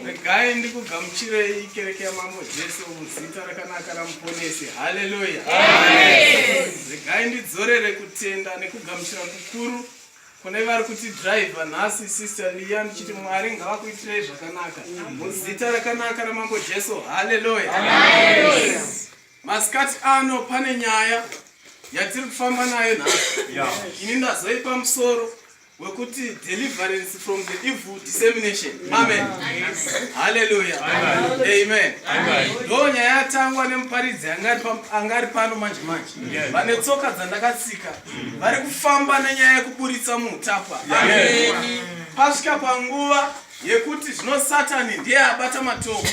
regai ndikugamuchirei kereke yamambo jesu muzita rakanaka ramuponesi haleluya regai ndidzorere kutenda nekugamuchira kukuru kune vari kuti driver nhasi sister liya ndichiti mwari ngavakuitirei zvakanaka muzita rakanaka ramambo jesu haleluya masikati ano pane nyaya yatiri kufamba nayo nhasi ini ndazoipa musoro wekuti deliverance from the evil dissemination amen haleluya amen ndo nyaya yatangwa nemuparidzi anga ari pano manje manje vane tsoka dzandakatsika vari kufamba nenyaya yekuburitsa muutapwa pasvika panguva yekuti zvino satani ndiye abata matoo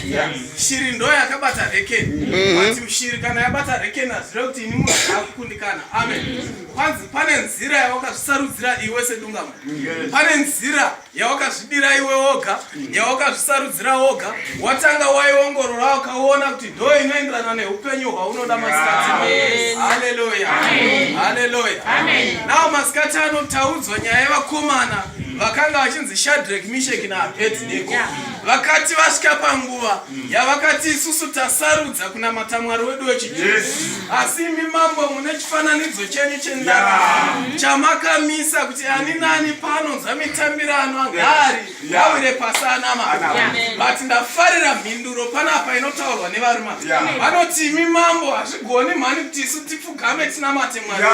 shiri ndo yakabata rekeni but mm. shiri kana yabata rekeni hazvire kuti ini munhu akukundikana amen kwanzi pane nzira yawakazvisarudzira iwe sedungama pane nzira yawakazvidira iwe woga yawakazvisarudzira woga watanga waiongorora wakaona kuti ndo inoenderana neupenyu hwaunoda masikati haleluya haleluya nao masikati ano taudzwa nyaya yevakomana vakanga vachinzi shadrek misheki naabednego vakati vasvika panguva yavakati isusu tasarudza kunamata mwari wedu wechijesu asi imi mambo mune chifananidzo chenyu chendarama chamakamisa kuti ani nani paanonzwa mitambirano ngaari yawire pasi anama but ndafarira mhinduro panapa inotaurwa nevarume vanoti imi mambo hazvigoni mhani kuti isu tipfugame tinamate mwari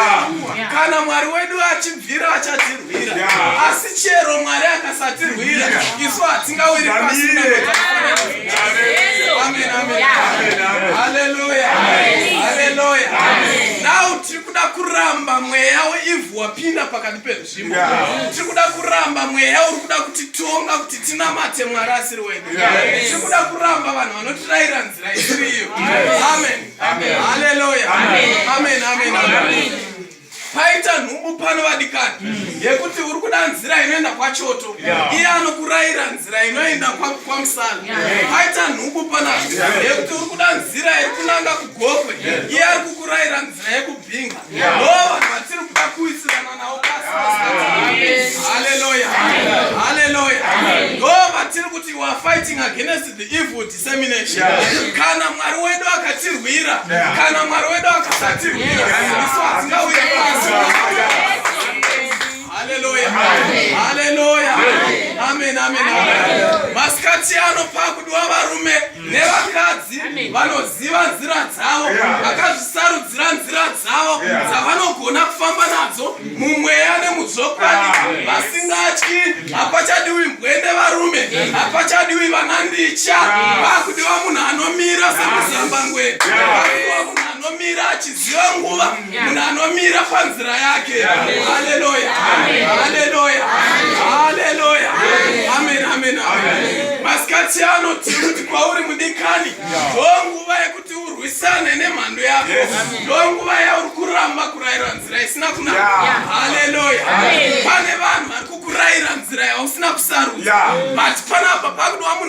kana mwari wedu achibvira achatirwira asi chero mwari akasatirwira isu hatingawiri pasi now tiri kuda kuramba mweya weivhu wapinda pakati pedu tiri kuda kuramba mweya uri kuda kuti tonga kuti tinamate mwari asiri wedu tiri kuda kuramba vanhu vanotirayira nzira isiriyo amen haleluya amen amen amen paita nhumbu pano vadikani mm. yekuti uri kuda nzira inoenda kwachoto iye anokurayira nzira inoenda kwamusana paita nhumbu pano yekuti uri kuda nzira iri kunanga kugokwe iye ari kukurayira nzira yekubhinga kana mwari wedu akatirwira kana mwari wedu akasatirwira isu hatingauye pasi haleluya haleluya amen amen masikati ano pakudiwa varume nevakadzi vanoziva nzira dzavo vakazvisarudzira nzira dzavo dzavanogona kufamba nadzo mumweya nemuzvokwadi vasingatyi hapachadiwi mbwende varume hapachadiwi vanandicha vakudiwa munhu anomira semuzambangwe vakudiwa munhu anomira achiziva nguva munhu anomira panzira yake haleluya haleluya haleluya amen amen amen masikati ano tiri kuti kwauri mudikani ndonguva yekuti urwisane nemhando yako ndonguva yauri kuramba kurayira nzira isina kunaka haleluya pane vanhu vari kukuraira nzira yausina kusarudza but panapa pakudiwa munhu